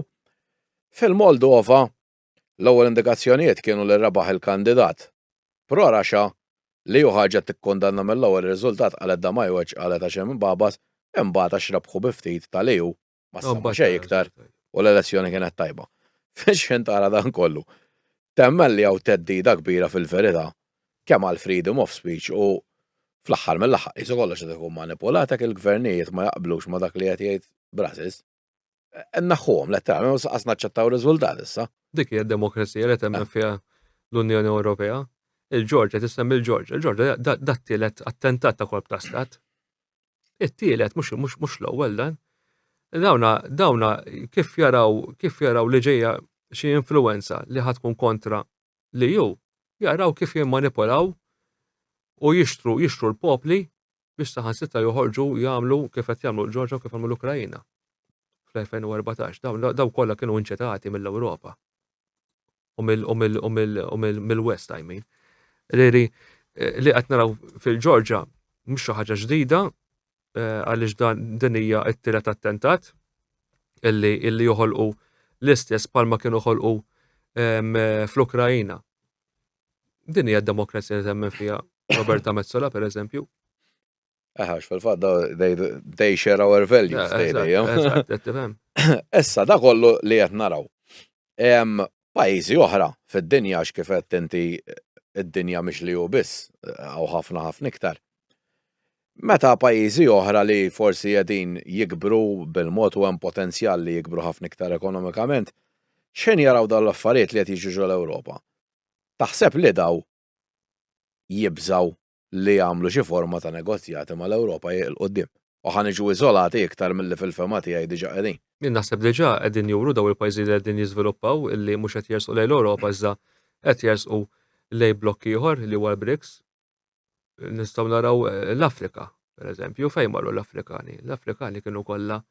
Fil-Moldova L-ewwel indikazzjonijiet kienu li rebaħ il-kandidat pro rhaxxa li hu ħaġa tikkundanna mill-ewwel ir-riżultat qalet Damajweċ qalet għax hemm imbabat imbagħad għax rebħu bi ftit ta' li hu ma ssemma xejn iktar u l-elezzjoni kienet tajba. Fix-xħin tara dan kollu temmen li hawn theddida kbira fil-verità kemm għall-freedom of speech u fl-aħħar mill-aħħar qisu kollox qed ikun manipulat hekk il-gvernijiet ma jaqblux ma' dak li qed jgħid Brussels. Naħħuhom, le ta' mhux qas naċċettaw riżultat issa. Dik hija d-demokrazija li temmen fiha l-Unjoni Ewropea. Il-Ġorġa tissemmi l-Ġorġa. Il-Ġorġa dat tielet attentat ta' kolp ta' stat. It-tielet mhux l-ewwel dan. Dawna dawna kif jaraw kif jaraw li ġejja xi influenza li ħatkun kontra li hu jaraw kif jimmanipulaw u jixtru jixtru l-popli biex saħansitra joħorġu jagħmlu kif qed jagħmlu l-Ġorġa u kif għamlu l-Ukrajina fl-2014. Dawn daw kollha kienu inċetati mill-Ewropa u mill-West, I mean. Riri, eh, li qed naraw fil-Ġorġa mhux xi ħaġa ġdida, eh, għaliex dan din hija t-tielet attentat illi illi joħolqu l-istess palma kienu ħolqu ehm, fl-Ukrajina. Din hija d-demokrazija li temmen fiha Roberta Mezzola per eżempju. Eħax, fil-fat, they share our values, they Essa, da kollu li jett naraw. Pajjiżi oħra fid-dinja għax kif għedt inti d-dinja mhix li hu biss, hawn ħafna ħafna iktar. Meta pajjiżi oħra li forsi qegħdin jikbru bil-mod u hemm potenzjal li jikbru ħafna iktar ekonomikament, x'ħin jaraw dawn l-affarijiet li qed jiġu ġol-Ewropa, taħseb li dawn jibżgħu li jagħmlu xi forma ta' negozjati mal-Ewropa hi 'l quddiem. U ħa niġu iżolati iktar milli fil-fehma tiegħi diġà qegħdin. Jien naħseb diġà qegħdin juru dawn il-pajjiżi li qegħdin jiżviluppaw illi mhux qed jersqu lejn l-Ewropa iżda qed jersqu lejn blokk ieħor li huwa l-BRICS. Nistgħu naraw l-Afrika, pereżempju, fejn marru l-Afrikani? L-Afrikani kienu kollha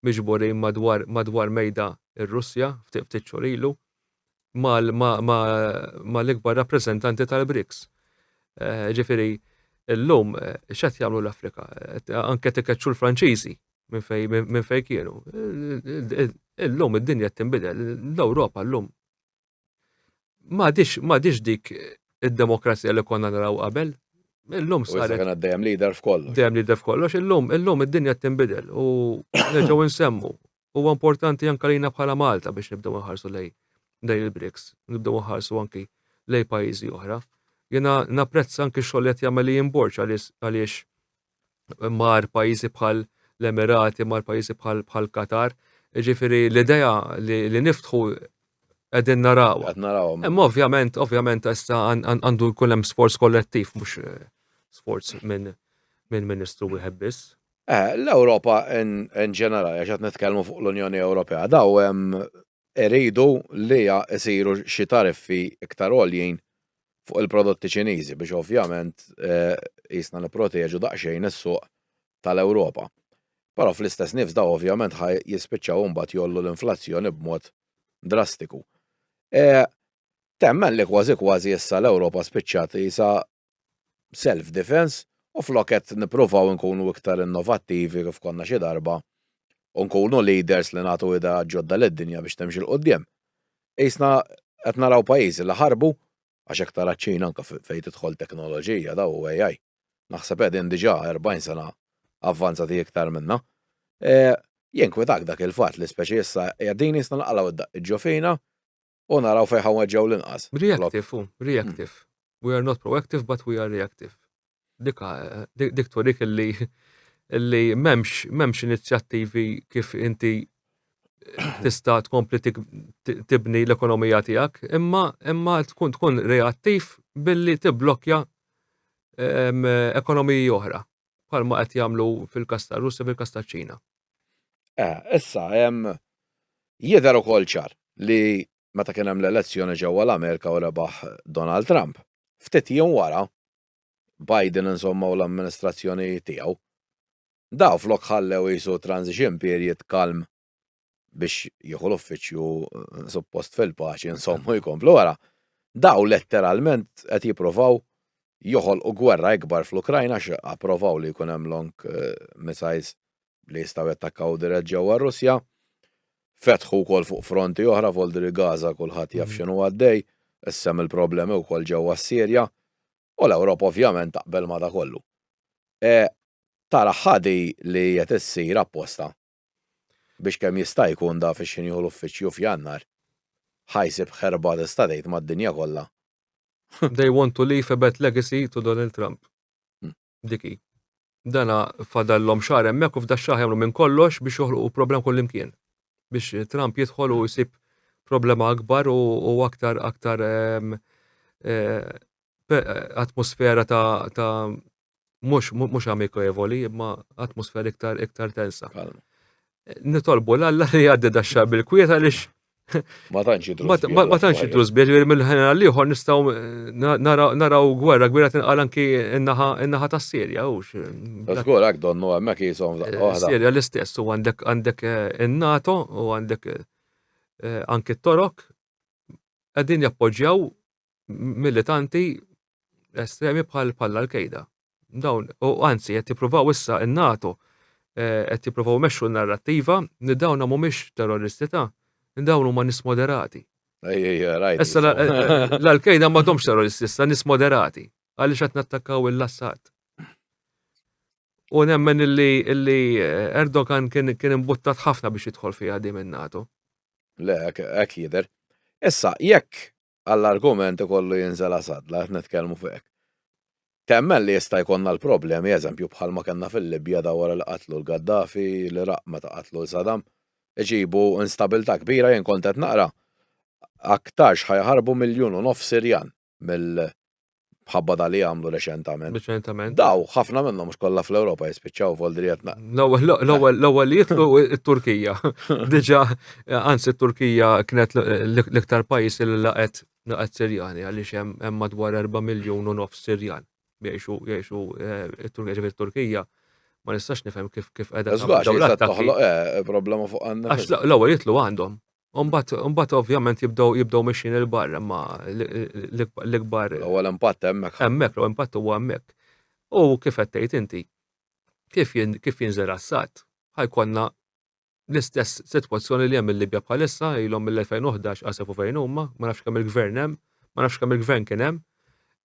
miġburin madwar madwar mejda r-Russja ftit ftit xhur ilu. mal-ikbar rappreżentanti tal-BRICS. Ġifieri, illum x'qed jagħmlu l-Afrika? Anke qed ikeċċu l-Franċiżi minn fejn kienu. Illum id-dinja qed tinbidel, l-Ewropa llum m'għadhiex dik id-demokrazija li konna naraw qabel. Illum saret. Kien għaddejjem leader f'kollox. Dejjem leader f'kollox. Illum id-dinja qed tinbidel u nerġgħu nsemmu Huwa importanti anke għalina bħala Malta biex nibdew inħarsu lejn lejn il-BRICS, nibdew inħarsu anki lejn pajjiżi oħra. Jiena napprezza anki x-xogħol li qed jagħmel Ian Borg għaliex mar pajjiżi bħal l-Emirati, mar pajjiżi bħal bħal Qatar. Ġifieri l-idea li, li niftħu qegħdin naraw. Qed naraw. Imma ovvjament, ovvjament issa għandu jkun hemm sforz kollettiv mhux eh, sforz minn minn ministru wieħed biss. L-Ewropa in ġenerali, għax qed nitkellmu fuq l-Unjoni Ewropea, daw iridu li jsiru xi tariffi iktar għoljin fuq il-prodotti Ċiniżi biex ovvjament qisna nipproteġu daqsxejn is-suq tal-Ewropa. Però fl-istess nifs daw ovvjament ħa jispiċċaw imbagħad jgħollu l-inflazzjoni b'mod drastiku. Temmen li kważi kważi issa l-Ewropa spiċċat qisha self defense u flok qed nippruvaw inkunu iktar innovattivi kif konna xi darba u nkunu leaders li nagħtu ideat ġodda lid-dinja biex timxi 'l quddiem. Qisna qed naraw pajjiżi li ħarbu għax hekk tara ċ-Ċina anke fejn tidħol teknoloġija daw u AI. Naħseb qegħdin diġà 40 sena avvanzati iktar minna. Jinkwetak dak il-fatt li speċi issa qegħdin qisna nqalgħu d-daqqiet ġo fina u naraw fejn ħa nweġġgħu l-inqas. Reactive hu, reactive. We are not proactive but we are reactive. Dika, dik turik illi illi memx, memx inizjattivi kif inti tista tkompli tibni l-ekonomija tijak, imma imma tkun tkun reattiv billi tiblokja ekonomiji oħra. bħalma qed jagħmlu fil-każ tar-Russja fil-każ taċ-Ċina. Eh, issa hemm jidher ukoll ċar li meta kien hemm l-elezzjoni ġewwa l-Amerika u rebaħ Donald Trump, ftit jiem wara Biden insomma u l-amministrazzjoni tiegħu. Daw flok ħallew jisu transition period kalm biex jieħu l-uffiċċju eh, suppost fil-paċi insomma jkomplu wara. Daw letteralment qed jippruvaw joħolqu gwerra ikbar fl-Ukrajna x approvaw li jkun hemm long eh, missiles li jistgħu jattakkaw dirett ġewwa Russja. Fetħu wkoll fuq fronti oħra voldri Gaza kulħadd jaf mm. x'inhu għaddej, issem il-problemi wkoll ġewwa s-Sirja u l-Ewropa ovvjament taqbel ma da kollu. E, tara ħadi li qed issir apposta biex kemm jista' jkun da fix-xi nieħu l-uffiċċju f'Jannar, ħa jsib ħerba tista' tgħid mad-dinja kollha. They want to leave a bad legacy to Donald Trump. Dik hi. Dana fadallhom xahar hemmhekk u f'dax-xahar jagħmlu minn kollox biex joħloqu problema kullimkien. Biex Trump jidħol u jsib problema akbar u aktar aktar atmosfera ta' mhux mhux amikevoli, imma atmosfera iktar iktar tensa. Nitolbu l-alla li jgħaddi daxxa bil-kwiet għaliex Ma tantx jidru. Ma tantx jidru żbieħ li mill-ħin għal ieħor nistgħu naraw gwerra kbira tinqal anki in-naħa tas-Sirja u Żgur hekk donnu hemmhekk jisom Sirja l-istess u għandek għandek eh, in-NATO u għandek eh, anki t-Torok qegħdin jappoġġjaw militanti estremi bħal bħal l-Qaeda. Dawn, u anzi, qed jippruvaw issa n-NATO eh, qed jippruvaw mexxu n-narrattiva li dawn mhumiex terroristi ta' dawn huma nis moderati. Issa eh, eh, l-Qaeda ma domx terroristi, issa nis moderati għaliex qed nattakkaw il-Assad. U nemmen illi Erdogan kien imbuttat ħafna biex jidħol fiha di minn NATO. Le, hekk jidher. Issa, jekk għall-argument ikollu jinżel Assad, la qed nitkellmu fuq hekk. Temmen li jista' jkollna l-problemi, eżempju, bħalma kellna fil-Libja da wara li qatlu l-Gaddafi, l-Iraq meta qatlu l Saddam, iġibu instabilità kbira jien kont qed naqra aktarx ħajaħarbu miljun u nofs Sirjan mill bħabba da li għamlu reċentament. Reċentament. Daw, ħafna minnhom mhux kollha fl-Ewropa jispiċċaw f'Oldrijetna. L-ewwel li jitlu t-Turkija. Diġà, anzi t-Turkija kienet l-iktar pajjiż li laqet laqet Sirjani għaliex hemm madwar 4 miljun u nofs Sirjan jgħixu jgħixu t-Turkija eh, Turkija ma nistax nifhem kif kif qiegħda. Żgħax toħloq eh, problema fuq għandna. Għax l-ewwel jitlu għandhom. Umbat ovvjament jibdow jibdow mixin il-barra ma l-ikbar. U l-impatt hemmhekk. Hemmhekk, l impatt huwa hemmhekk. U kif qed tgħid inti, kif jinżel assat, ħajkonna l-istess sitwazzjoni li hemm il-Libja bħalissa, ilhom mill-2011 għasefu fejn huma, ma nafx kemm il-gvern hemm, ma nafx kemm il-gvern kien hemm,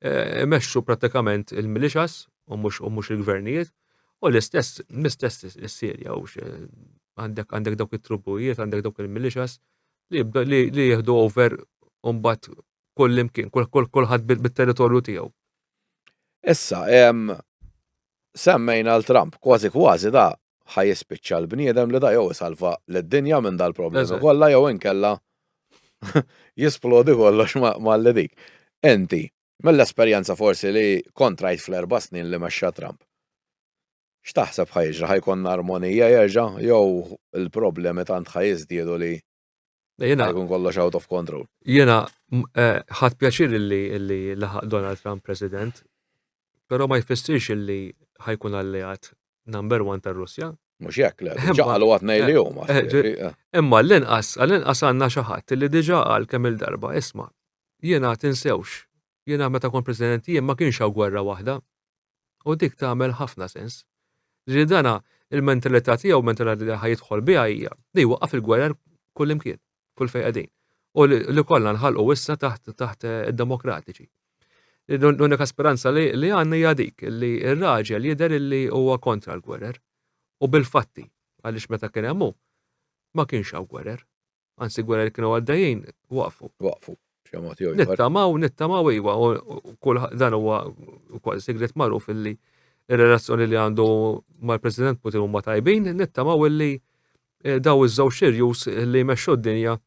eh, imexxu pratikament il-milixas u mhux il-gvernijiet. U l-istess, l-istess is-Sirja, u għandek għandek dawk it-trubujiet, għandek dawk il-milixas li jibda li jieħdu over umbat kull imkien, kullħat bil-territorju tiegħu. Issa, semmejna l-Trump, kważi kważi da ħaj jispiċċa l-bniedem li da jew salva l-dinja minn dal-problemi kollha jew inkella jisplodi kollox ma' l-dik. Enti, Mill-esperjenza forsi li kont rajt fl-erba' snin li mexxa Trump, x'taħseb ħa jiġri, ħa jkollna armonija jerġa' jew il-problemi tant ħa jiżdiedu li ħa jkun kollox out of control? Jiena ħadt pjaċir li laħaq Donald Trump President, però ma jfissirx li ħa jkun alleat number one tar-Russja. Mhux hekk le, ġaqalu għad ngħidlihom. Eh, eh, eh. Imma l-inqas, l-inqas għandna xi ħadd li diġà qal kemm il-darba, isma' jiena tinsewx, jiena meta kont President jien ma kienx hawn gwerra waħda. U dik tagħmel ħafna sens. Ġieli dana il-mentalità tiegħu, mentalità li ħajidħol biha hija li waqaf il-gwerra kullimkien. kull fejn qegħdin. U li kollha nħalqu issa taħt taħt id-demokratiċi. L-unika speranza li għandna hija dik li r-raġel jidher li huwa kontra l-gwerer u bil-fatti għaliex meta kien hemm ma kienx hawn gwerer. Anzi gwerer kienu għaddejjin waqfu. Waqfu. Nittamaw, nittamaw iwa, u kull dan huwa kol sigret magħruf illi il relazzjoni li għandu mal-President Putin huma tajbin, nittamaw illi Eh, daw iż-żewġ irjus li jmexxu d-dinja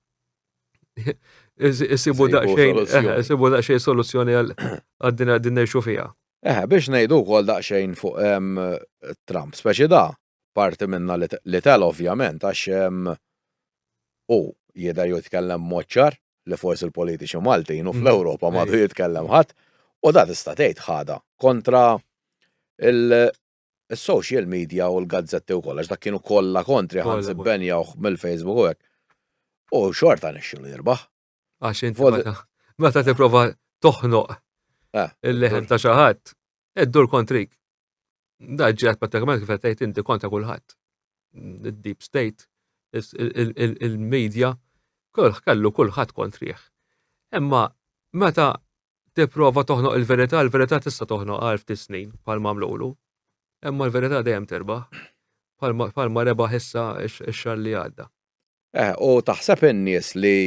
isibu daqsxejn eh, isibu daqsxejn soluzzjoni għad-dinja din ngħixu fiha. Eh, biex ngħidu wkoll daqsxejn fuq ehm, Trump, speċi da, parti minna li tel ovvjament għax ehm, u jidher jitkellem moċċar li forsi l-politiċi Maltin u mm. fl-Ewropa madu jitkellem ħadd u da tista' tgħid ħada kontra Is-social media u l-gazzetti u kollox, dak kienu kollha kontri ħansi benjawh mill-Facebook u hekk. U xorta nixxu li jirbaħ. Għax inti meta tipprova toħnoq eh. il-leħen ta' xi ħadd, iddur kontrik. Da ġiet pratikament kif qed inti kontra kulħadd. Deep state, il-media, kolħ kellu kulħadd kontrih. Imma meta tipprova toħnoq il-verità, il-verità tista' toħnoq għal ftit snin bħal mamlulu. Imma l-verità dejjem terbaħ bħal ma rebaħ issa x-xar li għadda. Eh, u taħseb in-nies li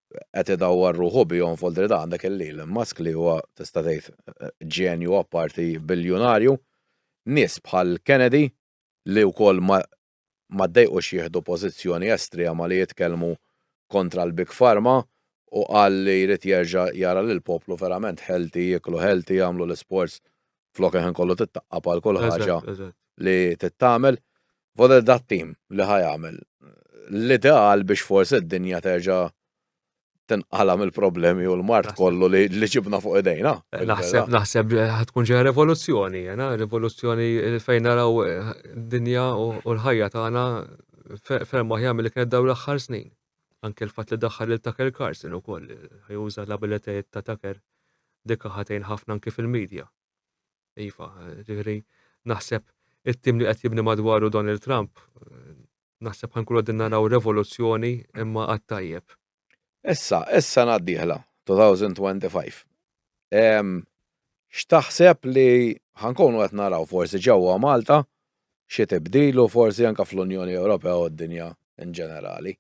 qed idawwar ruħu bihom f'Oldri da għandek il-lil Musk li huwa tista' tgħid eh, ġenju apparti biljunarju, nies bħal Kennedy li wkoll ma ma ddejqux jieħdu pożizzjoni estrema li jitkellmu kontra l-Big Pharma u qal li jrid jerġa' jara lill-poplu verament healthy, jieklu healthy, jagħmlu l-isports flok il-ħin kollu titqaqqab għal kull ħaġa li tittagħmel. F'għodod tat-tim li ħa jagħmel l-ideal biex forsi d-dinja terġa' tinqala mill-problemi u l-mart kollu li ġibna fuq idejna. Naħseb, naħseb tkun ġeja revoluzzjoni, jena, revoluzzjoni fejn naraw eh, dinja u l-ħajja tagħna ferm aħjar mill kienet daw l-aħħar snin. Anke l-fatt li daħħal il Tucker Carson ukoll ħajuża l-abilitajiet ta' Tucker dikka ħatejn ħafna anke fil-medja. Iva, ġifieri naħseb it-tim li qed jibni madwaru Donald Trump Naħseb ħankunu qegħdin naraw revoluzzjoni imma għat-tajjeb. Issa, is-sena d-dieħla, 2025, x'taħseb li ħankunu qed naraw forsi ġewwa Malta xi tibdil u forsi anke fl-Unjoni Ewropea u d-dinja in ġenerali?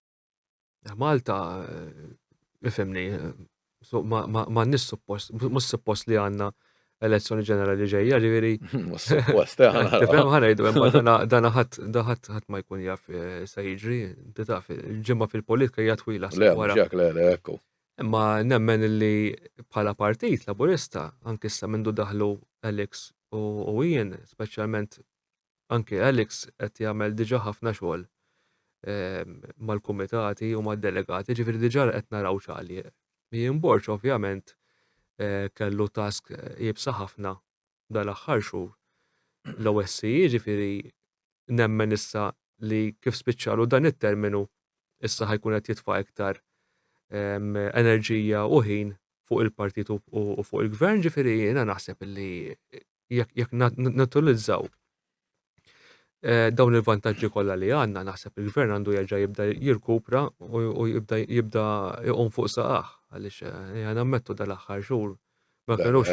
Malta, ifimni, ma nis suppost, mus suppost li għanna elezzjoni ġenerali ġejja, ġiviri. Mus suppost, għanna. ħanajdu, dana ħat, daħat ħat ma jkun jaf eh, sa jiġri, taf, ġimma fil-politika hija twila. Le, ġak, le, le, ekku. Imma nemmen li bħala partit laburista, anki sa mindu daħlu Alex u jien, specialment anke Alex qed jagħmel diġà ħafna xogħol mal-kumitati u mad-delegati, ġifieri diġà qed naraw x'għalieq. Jien Borċ ovvjament eh, kellu task jibsa ħafna dal-aħħar xhur. L-OSCE ġifieri nemmen issa li kif spiċċalu dan it-terminu issa ħajkun qed jitfa' iktar enerġija u ħin fuq il-partit u fuq il-gvern ġifieri jiena naħseb li jekk jekk nutilizzaw eh, dawn il-vantaġġi kollha li għandna naħseb il-gvern għandu jerġa' jibda jirkupra u jibda jibda jqum fuq saqaħ għaliex eh, għana mettu dal-aħħar xhur ma kienux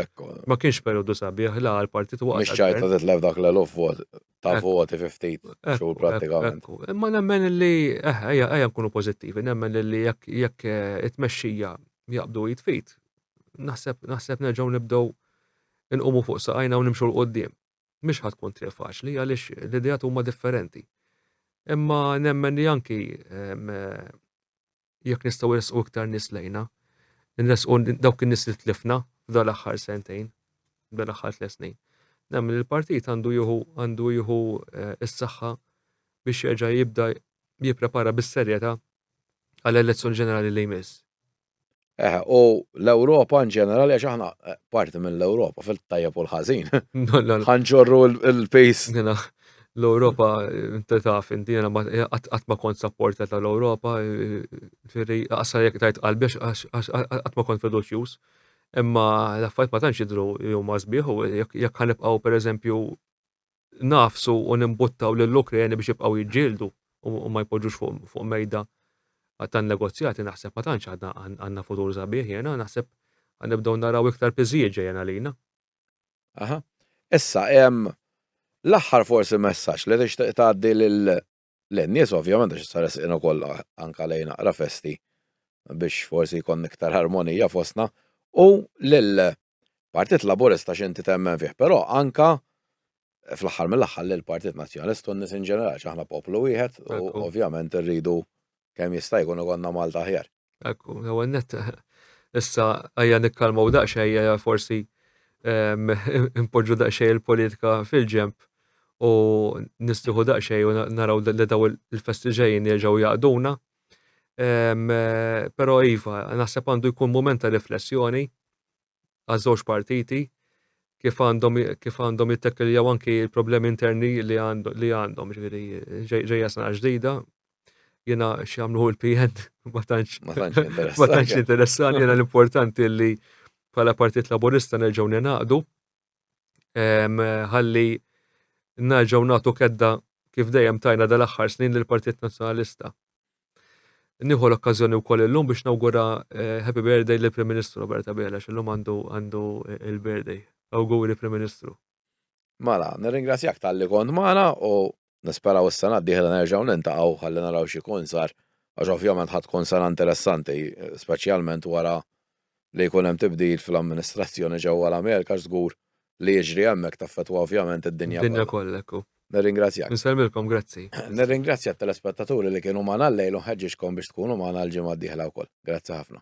ma kienx periodu sabiħ la għal-partit waqt. Mhix ċajta titlef dak l-eluf vot ta' voti 50 xhur pratikament. Imma nemmen li eh, ejja ejja nkunu pożittivi, nemmen li jekk jekk eh, it-tmexxija jaqbdu jitfit, naħseb naħseb nerġgħu nibdew inqumu fuq saqajna u nimxu 'l quddiem. Mhix ħa tkun triq faċli għaliex l-ideat huma differenti. Imma nemmen li anki jekk nistgħu nresqu iktar nies lejna, nresqu dawk in-nies li tlifna f'dan l-aħħar sentejn, f'dan l-aħħar tliet snin. Nemmen li l-partit għandu jieħu għandu jieħu eh, s-saħħa biex jerġa' jibda jipprepara bis-serjetà għall-elezzjoni ġenerali li jmiss. Eħe, u l-Ewropa in ġenerali, għax aħna eh, parti mill-Ewropa, fil-tajjeb u l-ħażin. Ħanġorru l-pejs. L-Ewropa, inti taf, inti jena qatt ma kont sapporta tal-Ewropa, firri, għassa jek tajt qalbi, qatt ma kont fiduċjuż. Imma l-affajt ma tantx jidru huma sbieħ u jekk ħanibqgħu pereżempju ngħafsu u nimbuttaw lill-Ukreni biex jibqgħu jiġġieldu u ma jpoġġux fuq mejda tan negozjati naħseb ma tantx għadna għandna futur sabiħ jena naħseb nibdew naraw iktar piżijiet ġejjen għalina. Aha. Issa, l-aħħar forsi messaġġ li tixtieq tgħaddi lil lin-nies ovvjament għax issa resqin ukoll anke lejn aqra festi biex forsi jkun iktar armonija fostna u lil Partit Laburista x'inti temmen fih, però anke fl-aħħar mill-aħħar lil Partit Nazzjonalist u n-nies in ġenerali ġaħna poplu wieħed u ovvjament irridu Kemm jista' jkun ikollna Malta aħjar. Ekku, l-ewwel nett issa ejja nikkalmaw daqsxejn ejja forsi ehm, impoġġu daqsxejn il-politika fil-ġenb u nistiħu daqsxejn u naraw li daw il-festi ġejjin jerġgħu jaqduna. Ehm, però iva, naħseb għandu jkun mument ta' riflessjoni għaż-żewġ partiti kif għandhom kif għandhom jittekkeljaw anki l-problemi interni li għandhom li għandhom ġifieri ġejja sena ġdida jiena x'jagħmlu l-PN ma tantx ma tantx interessani jiena l-importanti li bħala Partit Laburista nerġgħu ninaqdu ħalli narġaw nagħtu kedda kif dejjem tajna dal-aħħar snin lill partit Nazzjonalista. Nieħu l-okkażjoni wkoll illum biex nawgura eh, happy birthday lill prim Ministru Robert Abela illum għandu għandu eh, il-birthday. Awguri Prim Ministru. Mala, nirringrazzjak tal-li kont magħna u Nisperaw is-sena d-dieħla nerġgħu niltaqgħu ħalli naraw x'ikun sar għax ovvjament ħa tkun sena interessanti, speċjalment wara li jkun hemm tibdil fl-amministrazzjoni ġewwa l-Amerika għax żgur li jiġri hemmhekk taffettwa ovvjament id-dinja kollha. Id-dinja kollha, hekk hu. Nirringrazzjak. Insellmilkom, grazzi. Nirringrazzja t-telespettaturi li kienu magħna llejl u nħeġġiġkom biex tkunu magħna l-ġimgħa d-dieħla wkoll. Grazzi ħafna.